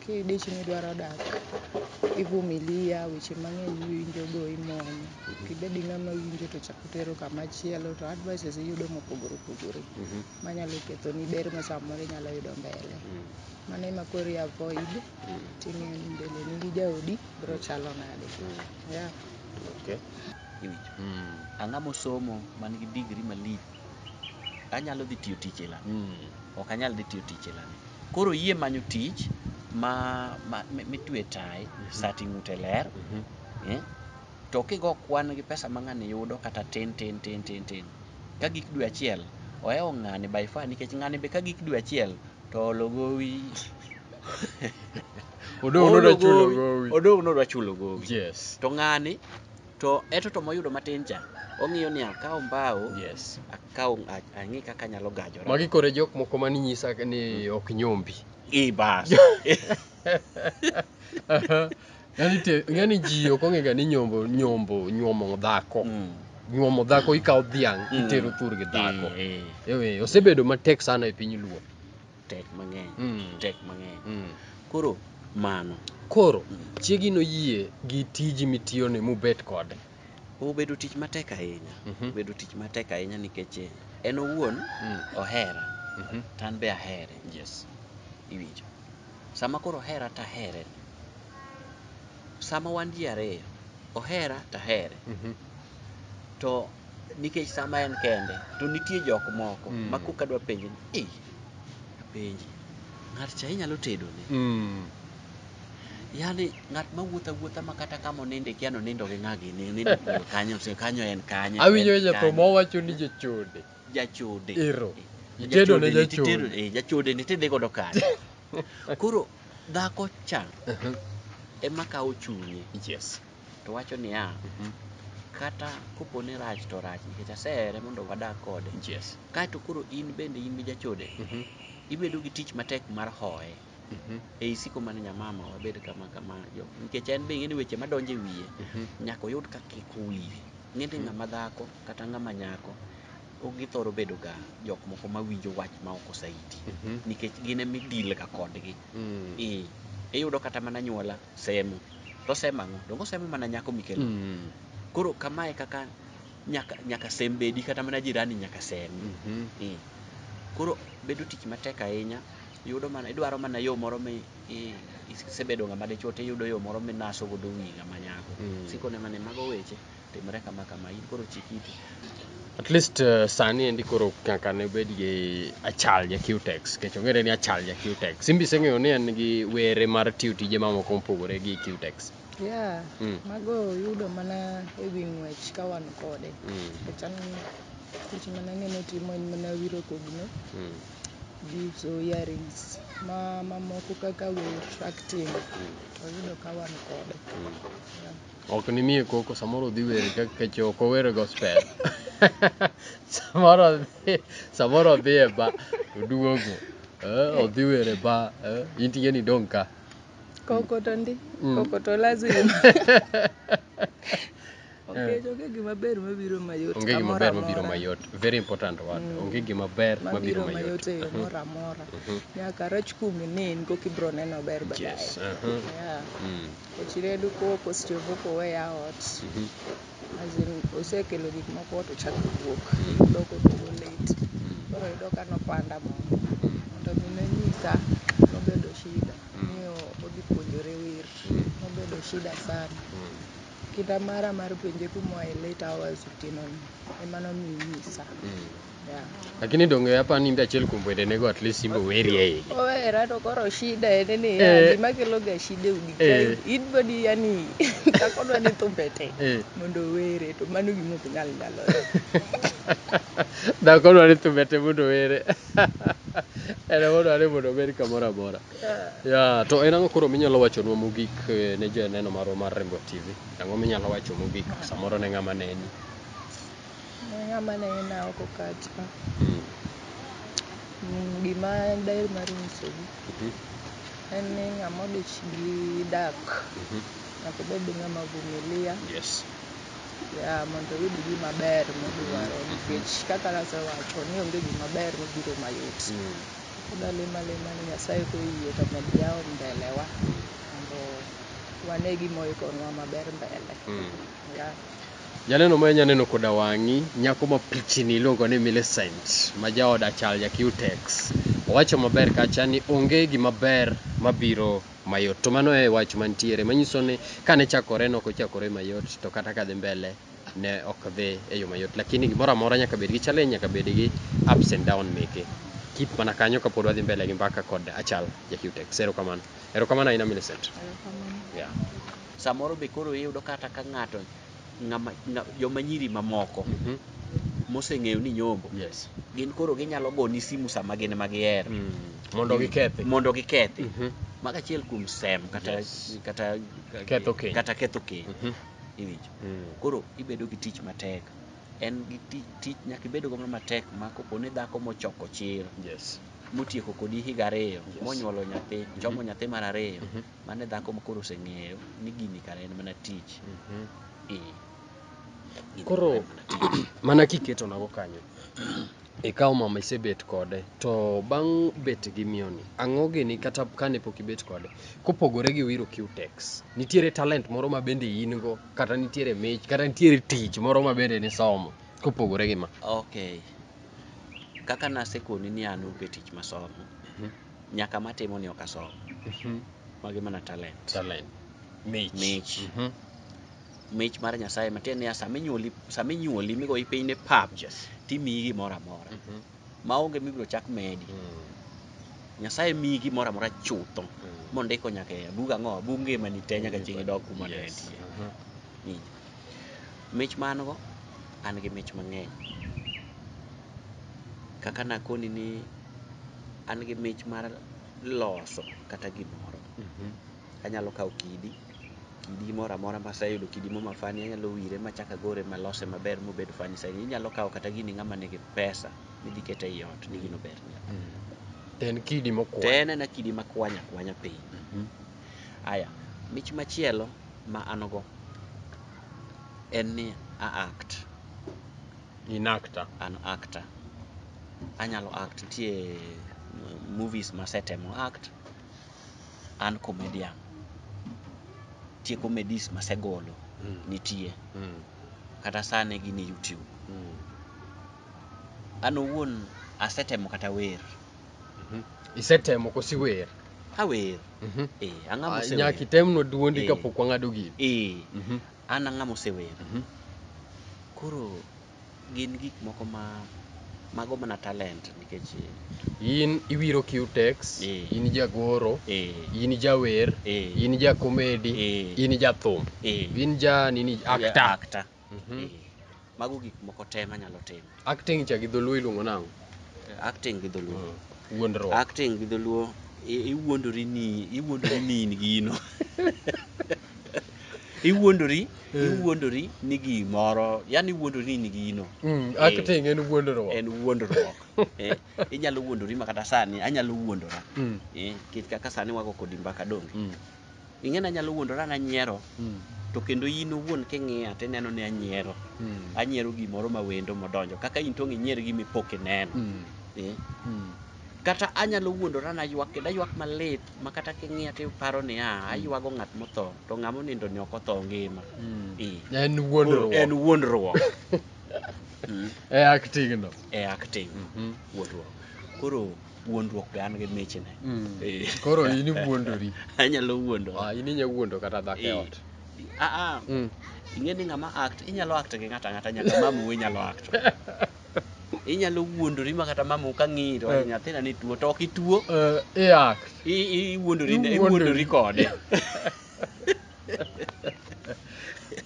Kidich ni idwaro dak, ivumilia, weche mang'eny iwinjo go imony. Kibedi ng'ama winjo to chako tero kama chielo to advices iyudo mopogore opogore. Manyalo ketho ni ber ma samoro inyalo yudo mbele. Mano ema koro i avoid ting'eyo ni mbele ni gi jaodi biro chalo nade. Yeah. Okay. Iwinjo. Ang'ama osomo man gi degree malich. anyalo dhi tiyo tich e lami mm. ok anyal dhi tiyo tich e lami koro yie manyo tich ma, ma mitwe tai mm -hmm. sati ng'ute ler mm -hmm. eh? to kigo kwan gi pesa ma ng'ani yudo kata tin tin tin tin tin ka gik dwe achiel ohewo ng'ani by far nikech ng'ani be ka gik dwe achiel to ologowi odong' nodwa chulo gowi yes to ng'ani to eto to moyudo matin cha ong'iyo ni akaw mbao yes akaw a- ang'i kaka anyalo gajora magi kore jok moko mani nyisa ni ok nyombi i bas yani te yani ji ok ong'ega ni nyombo nyombo nyuomo dhako Mm. nyuomo dhako ikawo dhiang' Mm. itero thurgi dhako Eh, eh. ewe osebedo matek sana e piny luo tek mang'eny Mm. tek mang'eny Mm. koro mano Koro chiegi noyie gi tiji mitiyoni mubet kode. obedo tich matek ahinya Mhm. obedo tich matek ahinya nikech eh, en owuon Mm. ohera Mhm. to an be ahere Yes. iwinjo sama koro ohera to ahere sama wan ji ariyo ohera to ahere Mhm. to nikech sama en kende to nitie jok moko mm. ma koka dwa penje ni e apenji ng'at cha inyalo tedo ne mm. yani ng'at ma wuotha wuotha ma kata kama oninde kia nonindo gi ng'agi ni nindo kanyo se kanyo en kanyo awinjo ja to mo wacho ni jachode jachode ero jachode ne jachode eh, jachode ni tedhi godo kanyo koro dhako cha uh-huh. ema kawo chunye yes to wacho niya, mhm. kata kopo ni rach to rach nikech asehere mondo wadag kode. Yes. Kaeto koro in bende in gi jachode, mm -hmm. ibedo gi tich matek mar hoye. Mm -hmm. Ei siko mane nyamama wabed kama kama jo nikech en be ng'eni weche madonje wiye mm -hmm. nyaka oyud ka kik wiye. Ng'eni mm -hmm. ng'ama dhako kata ng'ama nyako githoro bedo ga jok moko mawinjo wach ma ok osaiti mm -hmm. nikech gin emidil ga kodgi mm. e, iyudo kata mana nyuola semo to osemo ang'o donge osemo mana nyako mikelo Mm. koro kamae kaka nyaka nyaka sem bedi kata mana jirani nyaka sem Mhm. Eh. koro bedo tich matek ahinya yudo mana idwaro mana yo moro mi i- isebedo ng'ama dichuo tiyudo yo moro minaso godo wi ng'ama nyako Mm. sikone mana ni mago weche Timre kama kama, in koro chik iti. At least uh, sani endi koro kaka ne obed gi achal ja Qtex kech ong'ere ni achal ja Qtex. Simbi iseng'eyo ni en gi were mar tiyo tije mamoko mopogore gi Qtex. Yeah, mm. mago yudo mana e wi ng'wech ka wan kode. Mm. Kech an tich mana ng'eno timo en mana wiro kogno. Mm. Gi uso earrings ma mamoko kaka wech acting. Mm. Oyudo ka wan kode. Mm. Yeah. Ok nimiye koko samoro odhi were ka keche ok owere gospel. samoro odhi samoro odhi e ba oduogo. Eh, odhi were ba eh, intie ni dong' ka. Koko to ndi, Mm. koko to lazima. Okech onge gima ber mabiro mayot. Onge gima amora ber mabiro amora. mayot. Very important word. Mm. Onge gima ber mabiro Mabiro mayot. mayot e yo Mhm. moro amora. Mhm. Nyaka rach kumi ne in koka ibiro neno ber baadaye. Yes. Uh-huh. Yeah. Mm. Ochireyo duko oko seche go ok oweya ot. As in osekelo gik moko ot ochak wuok. Odok oduogo late. Koro iyudo ka nopanda moko. To gima onyisa nobedo shida ni odhi puonjore wer. Nobedo shida sana. Kinda mara mar penje kuma oaye late hours otieno ni ema nomiyo onyisa. Lakini donge hapa ni ndio achiel kuom wende nego at least simbo weri e igi. Owera to koro shida en ni Eh. ya, gima kelo ga shida e udi Eh. kae. In body yani dhako dwa ni thumbe te Eh. mondo owere to mano gima ok nyal nyalore. Dhako dwa ni thumbe te mondo were. En ema dware mondo obed kamoro amora. Yeah. Ya, to en ang'o koro minyalo wachonwa mogik eh, ne joneno marwa mar Rembo TV? Ang'o minyalo wacho mogik samoro ne ng'ama neni? Ng'ama nena oko kacha. Mm. Mm, Gima daher mar nyisogi Mhm. en ni ng'ama odich gi dak Mhm. nyaka obed ng'ama vumilia Yes. ya mondo oyud gima ber modwaro Mhm. nikech kaka nasewacho ni onge gima ber mabiro mayot. Mm. Pod alemo alema ni Nyasaye koyie to mondo oyaw mbelewa Mm. mondo wane gima oikonwa maber mbele. Mm. Janeno ma nyaneno koda wang'i, nyako ma pichini iluongo ni Millicent ma jaod Achal ja Cutex. Owacho maber kacha ni onge gima ber mabiro mayot. To mano e wach mantiere manyiso ni kane chakore ne ok ochakore mayot to kata ka dhi mbele ne ok dhi e yo mayot. Lakini gimoro amora nyaka bed gi challenge, nyaka bed gi ups and down meke. Keep mana kanyo kapod wadhi mbele gi mbaka kod Achal ja Cutex. Erokamano. Erokamano ahinya Millicent. Yeah. Samoro be koro iyudo kata ka ng'ato ng'ama nga- joma nyiri mamoko Mhm. moseng'eyo ni nyombo Yes. gin koro ginyalo goni simu sama gin ma gihero Mm. Mondo gikethi. mondo gikethi Mhm. mago achiel kuom sem kata Yes. kata Ketho keny. kata ketho keny Mhm. iwinjo Mm. koro ibedo gi tich matek en gi ti- tich nyaka ibed godo matek ma kopo ni dhako mochoko chir Yes. motieko kodi higa ariyo Yes. monyuolo nyathi chomo nyathi mar ariyo Mhm. Mano e dhako ma koro oseng'eyo ni gini kare en mana tich. Mhm. Eh. Gini Koro- kare en mana tich. mana kiketo nago kanyo ikawo mama isebet kode to bang' bet gi mioni ang'o gini kata kane pok ibet kode kopogore gi wiro qtex nitiere talent moro ma bende in go kata nitiere mich kata nitiere tich moro ma bende nisomo kopogore gi ma Okay. Kaka nasekoni ni an onge tich masomo, Mhm. nyaka matimo ni ok asom Mhm. magi mana talent Talent. Mich. Mich. Mhm. mich mar nyasaye matiende niya sama inyuoli sama inyuoli migoyi piny ne pap Yes. timiyi gimoro amora Mhm. maonge mibiro chak medi Mm. nyasaye miyi gimoro amora chutho Mm. mondiko nyaka e bug ang'o bug ngimani te nyaka chieng' idok kuma ne Yes. entie Mhm. Winjo. mich ma an go an gi mich mang'eny kaka nakoni ni an gi mich mar loso kata gimoro mhm. anyalo kawo kidi kidi moro amora maseyudo kidi mo mafani anyalo wire machaka gore malose maber mobed fani saini inyalo kawo kata gini ng'ama nigi pesa midhi kete ei ot ni gino ber mm. en kidi mokwany to en ena kidi makwanya kwanya piny mhm. aya mich machielo ma an go en ni a act In actor? An actor. Anyalo act, nitie movies masetemo act. An comedian. Nitie comedies masegolo, mm. nitie. Mm. Kata sani gin e YouTube. Mm. An owuon asetemo kata wer. Mm -hmm. Isetemo kosi wer? Awer. Mm -hmm. Eh, ang'ama ah, osewer. Nyaki temno duondi eh. kapok wang'ado gini. Eh. Mm -hmm. An ang'a mosewer. Mhm. Koro gin gik moko ma mago mana talent nikech in iwiro Q-Tex, Eh. in jagoro, eh in jawer, Eh. in ja comedy, Eh. in ja thum, eh in ja nini actor. actor. Mhm. Eh. mago gik moko te manyalo timo acting cha gi dholuo iluongo nang'o acting gi dholuo hmm. wuondruok acting gi dholuo iwuondori ni iwuondori ni in gino iwuondori hmm. iwuondori ni gimoro yani iwuondori ni in gino hmm, eh, acting en wuondruok en wuondruok eh, inyalo wuondori ma kata sani anyalo wuondora eh, kit kaka sani wago kodi mbaka donge ing'e ni anyalo wuondora ni anyiero mm. to kendo in owuon king'iya to ineno ni anyiero mm. anyiero gimoro ma wendo modonjo kaka in tong' inyier gi mipok ineno mm. eh? mm. kata anyalo wuondora na ywak kendo aywak malit ma kata king'iya to iparo ni a hmm. aywago ng'at motho to ng'ama onindo ni ok otho ngima hmm. eh. en wuondruok en wuondruok hmm. e acting no e acting mm-hmm. wuondruok koro wuondruok be an gi michne mm. eh. koro in iwuondori anyalo wuondo ah, in inya wuondo kata dhako e eh. ot aa ah, ah. mm. ing'e ni ng'ama act inyalo act gi ng'ato ang'ata nyaka mamu inyalo act inyalo wuondori ma kata mamu ka ng'iyi to eh. nyathina ni tuo to ok ituo iwuondori kode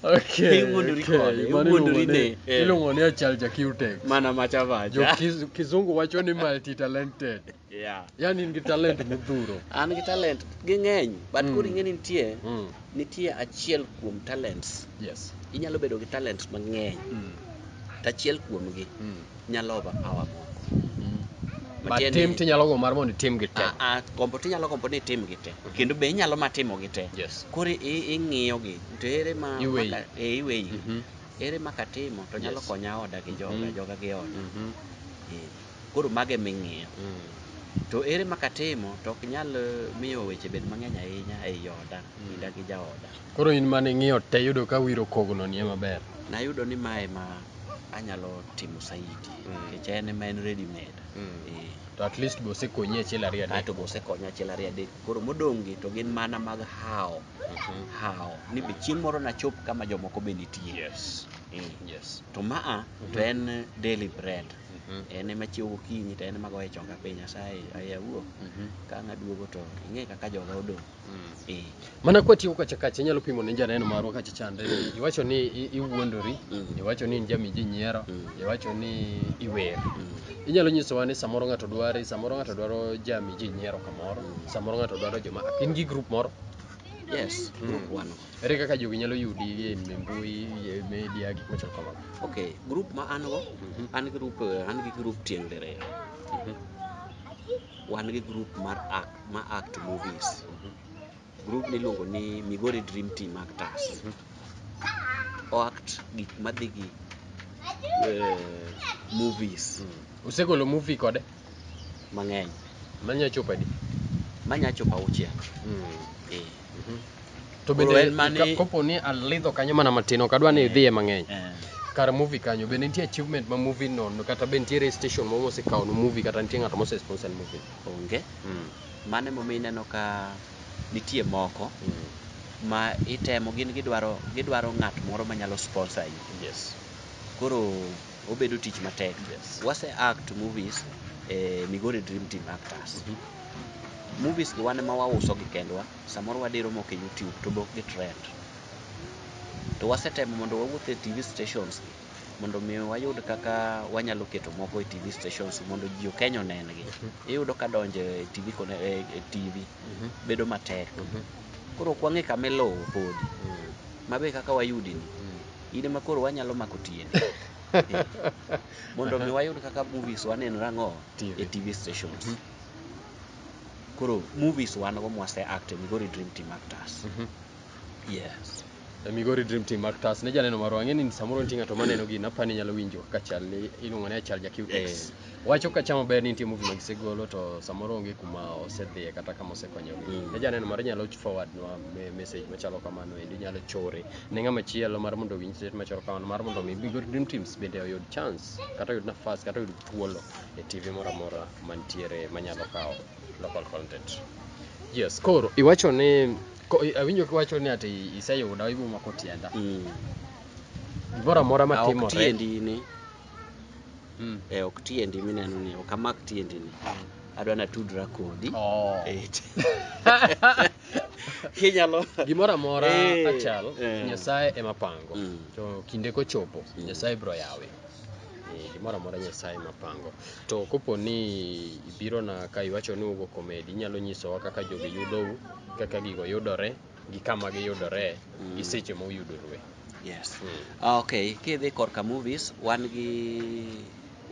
Okay, Iwuondori okay, kode, mano iwuondori iluongo ni- ni- eh. iluongo ni achal ja Q-Tex. mana macha macha Jo-Kiz- kizungu wacho ni multi talented yeah. yani in gi talent modhuro an gi talent ging'eny but Mm. koro ing'e ni nitie mm. nitie achiel kuom talents yes inyalo bedo gi talents mang'eny mm. to achiel kuomgi mm. nyalo over power moko But Matiende- tim tinyalo go mar mondo itim gi te. Ah, ah, gombo to inyalo gombo ni itim gi te Mhm. kendo be inyalo ma timo gi te Yes. koro i- ing'iyo gi to ere ma Iweyi. maka- eh, iweyi Mhm. ere ma katimo to nyalo Yes. konya oda gi joga Mhm. joga gi oda Mhm. Eh, koro mage ming'iyo Mm. to ere ma katimo to ok nyal eh, miyo weche bed mang'eny ahinya ei oda Mhm. kinda gi jaoda Koro in mane ing'iyo te yudo ka wiro kogno nie maber. nayudo ni mae ma anyalo timo saidi nikech en ema en ready made eh. to at least be osekonyi achiel ariyo adek aeto be osekonya achiel ariyo adek koro modong' gi to gin mana mag hawo mhm. hawo ni be chieng' moro nachop kama jomoko be nitie yes. Eh. Yes. to maa mhm. to en daily bread mhm. en ema chiew gokinyi to en ema goye chonga piny asaye ayawuo ka ng'aduogo to ing'e kaka joga odong' Eh, mana kwatiyo kacha kacha inyalo pimo ne janeno marwa kacha chande iwacho ni i- iwuondori Mm. iwacho ni in jami ji nyiero Mm. iwacho ni iwer mm, inyalo nyisowa ni samoro ng'ato dwari samoro ng'ato dwaro jami ji nyiero kamoro Mm. samoro ng'ato dwaro joma in gi grup moro yes Mm. group one ere kaka jogi nyalo yudi e mbui e media gik machal kamago okay group ma an go Mhm. an group eh, an gi group tieng' diriyo Mhm. wan gi group mar act ma act movies group niluongo ni migori dream team actors o act gik madhi gi eh, movies usegolo movie kode mang'eny manya chopo adi manya chopo auchiel Mm. eh, Mhm. to Koro bende en mane- ka- kopo ni alidho kanyo mana matin ok adwa ni idhiye mang'eny eh. kar movie kanyo bende nitie achievement ma movie no kata be nitiere station moro mosekawonu movie kata nitie ng'ato mose sponsor movie Onge. Mm. Mano emomiyo ineno ka nitie moko mm. ma itemo gin gidwaro gidwaro ng'at moro manyalo sponsor yi. Yes. Koro obedo tich matek. Yes. Wase act movies eh, Migori Dream Team actors. Mm -hmm. Movies gi wane ma wauso gi kendwa, samoro wadiro moko e YouTube to bok gi trend. To wasetemo mondo wawuoth e TV stations mondo mi wayud kaka wanyalo keto moko e TV stations mondo ji okeny onengi. Mhm. Iyudo ka donjo e TV kone e, e TV mhm. bedo matek. Mhm. Koro ok wang'e kama ilowo podi. Mm. Mabe kaka wayudi ni. Mm. In ema koro wanyalo mako tieni. Mondo mi wayud kaka movies waneno rang'o e TV stations. Koro movies wan go mwase act e Migori Dream Team actors. Yes. e Migori Dream Team mar TAS ne janeno marwa ang'e ni samoro nitie ng'ato maneno gini apa ni nyalo winjo kaka chal ni iluongo ni achal ja QTX Eh. wacho kacha maber ni nitie movie ma gisegolo to samoro onge kuma osedhiye kata kama osekonyogi Mm. ne janeno marwa inyalo forward nwa me- message machalo kamano endi inyalo chore ne ng'ama chielo mar mondo owinj state machalo kamano mar mondo mi Migori Dream Teams bende oyud chance kata oyud nafas kata oyud thuolo e TV moro amora mantiere manyalo kawo local content yes koro iwacho ni Ko- i- Awinjo kiwacho ni ati iseyuda ibo mako tienda. Mm. Gimoro amora ma Ah, ok timore. tiendi ni Mm. eh, ok tiendi mineno ni ok amak tiendi ni adwa natudra kodi Oh. Eh, kinyalo Gimoro amora Eh, achal eh. Nyasaye ema pango. Mm. To kinde kochopo Mm. Nyasaye biro yawe. Eh, gimoro amora nyasaye mapango to kopo ni ibirona ka iwacho ni ugo komedi inyalo nyisowa kaka jogi yudou kaka gigo yudore gi kama giyudore gi mm. seche ma uyudorue yes mm. okay kidhi korka movies wan gi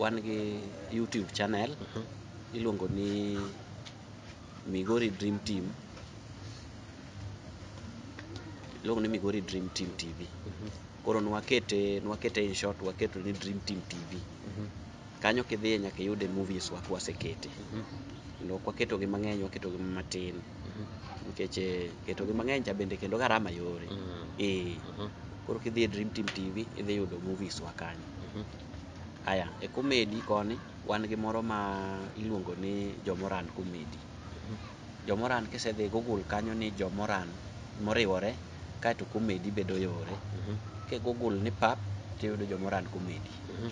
wan gi youtube channel mm -hmm. iluongo ni Migori Dream Team iluongo ni Migori Dream Team TV mhm. koro nwakete nwakete in short waketo ni Dream Team TV mhm. kanyo kidhiye nyaka iyude movies wa kwasekete mhm. kendo ok waketogi mang'eny waketogi matin nikech eh, ketogi mang'eny cha bende kendo garama yore ee eh, koro kidhiye Dream Team TV idhi yudo movies wa kanyo aya e komedi koni wan gi moro ma iluongo ni Jomoran Committee. Jomoran kisedhi Google kanyo ni Jomoran moriwore kaeto Committee bedo yore. Mhm. Ki Google ni pap tiyudo Jomoran Committee. Mhm.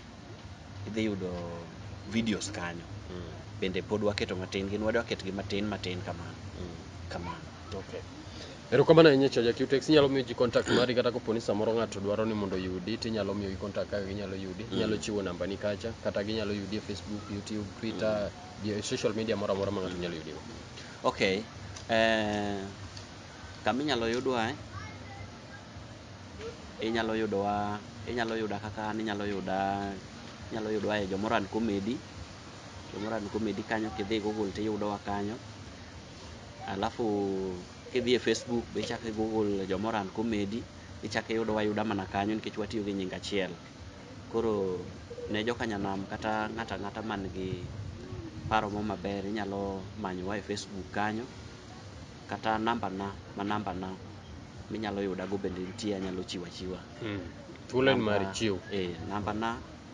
Idhi yudo videos kanyo. Mm. Bende pod waketo matin gin wadwa ketgi matin matin kamano. Mm. Kamano. Okay. Erokamano ahinya Chaja Qtex. Inyalo miyo ji contact mari kata koponi samoro ng'ato dwaro ni mondo oyudi to inyalo miyogi contact kaka ginyalo yudi. Mm. Inyalo chiwo nambani kacha kata ginyalo yudi e Facebook, YouTube, Twitter, mm. e social media moro amora ma ng'ato nyalo yudigo. Okay. Eh, kama inyalo yudwa eh? inyalo yudowa inyalo yuda kaka an inyalo yuda inyalo yudowa e Jomoran Comedy. Jomoran Comedy kanyo kidhi Google tiyudowa kanyo. alafu kidhi e Facebook be ichako i-google Jomoran Comedy, ichako iyudowa ayuda mana kanyo nikech watiyo gi nying achiel. Koro ne joka Nyanam kata ng'ato ang'ata man gi paro moro maber inyalo manyowa e Facebook kanyo kata nambana ma nambana minyalo yudago bende nitie anyalo chiwo achiwa. Thuolo en mari, Namba- chiw. eh, nambana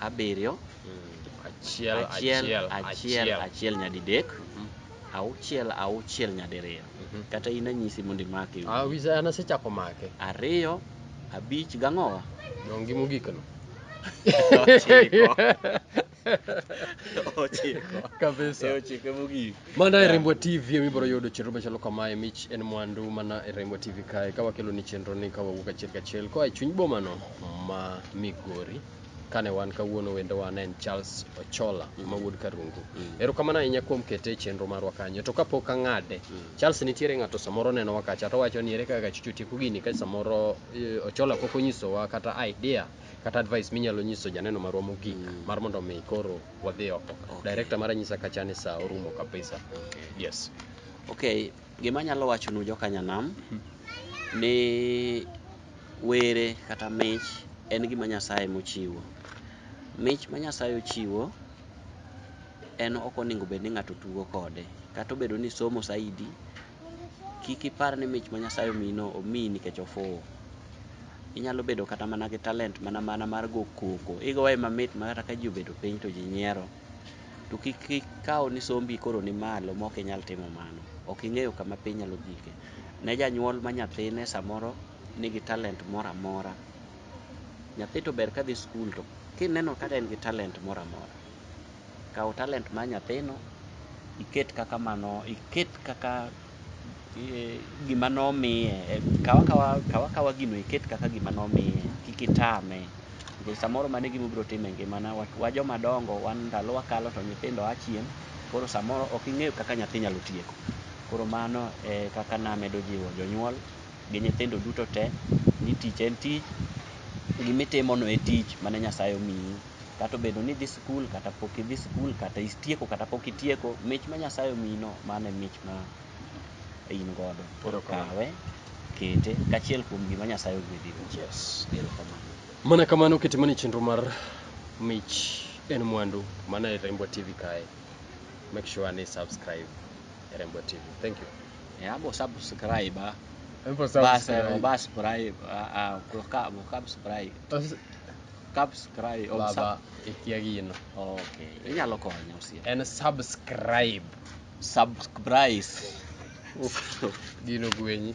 abiriyo achiel achiel achiel achiel nyadidek mhm. auchiel auchiel nyadiriyo mhm. kata in anyisi mondo imake ah, an asechako make ariyo abich gang'owa dongi mogikno ochiko ochiko kabisa ochiko mogik Mana e Rembwa TV ema ibiro yudo chenro machalo kamae. Mich en mwandu mana e Rembwa TV kae ka wakelo ni chenro ni ka wawuok achiel kachiel koa e chuny bomano ma Migori. Kane wan kawuono wendo wan en Charles Ochola ma wuod Karungu. Erokamano ahinya kuom kete e chenro marwa kanyo. To kapok ang'ade, Charles nitiere ng'ato samoro nenowa kacha to wacho ni ere kaka chicho tieko gini ka samoro eh, Ochola pok onyisowa kata idea kata advice minyalo nyiso janeno marwa mogik mar mondo mi koro wadhi oko Okay. director mara nyisa kacha ni saa orumo kabisa Okay. yes Okay, gima anyalo wachonu joka Nyanam ni were kata mich en gima Nyasaye mochiwo. Mich ma Nyasaye ochiwo en ok onego bed ni ng'ato tugo kode. Kata obedo ni isomo saidi, Kik ipar ni mich ma Nyasaye omiyino omiyi nikech ofuwo. Inyalo bedo kata mana gi talent mana mana mar go koko. Igoye mamit ma kata ka ji obedo piny to ji nyiero. To kik ikaw ni sombi koro ni malo ma ok inyal timo mano. Ok ing'eyo kama piny nyalo gike. Ne janyuol ma nyathine samoro nigi talent moro amora. Nyathi to ber ka dhi skul to kineno ka en gi talent moro amora. Kaw talent mar nyathino iket kaka mano iket kaka eh, gima nomiye Eh, kaw akawa kaw akawa gino iket kaka gima nomiye kik itame nikech samoro mano e gima obiro timo e ngimana Wa- wa joma dongo wan ndalowa kalo to nyithindo a chien koro samoro ok ing'eyo kaka nyathi nyalo tieko koro mano e kaka namedo jiwo jonyuol gi nyithindo duto te ni tich en tich gimitimono e tich mane Nyasaye omiyi Kata obedo ni idhi skul kata pok idhi skul, kata istieko kata pok itieko, mich ma Nyasaye omiyino, mano e mich ma in godo. Koro kawe, kete kachiel kuom gima Nyasaye ogwedhigo. Yes. Erokamano. Mana kamano kitimo ni chenro mar mich en mwandu mana e Rembwa TV kae. Make sure ni subscribe e Rembwa TV. Thank you. Eh, abo subscribe ah. Embo Bas, eh, subscribe. obascribe ah, ah, okab- okabscribe. As- Subscribe. Oh, baba sub- ikia gino okay. Inyalo konya osiepa. en subscribe Subscribe. gino gwenyi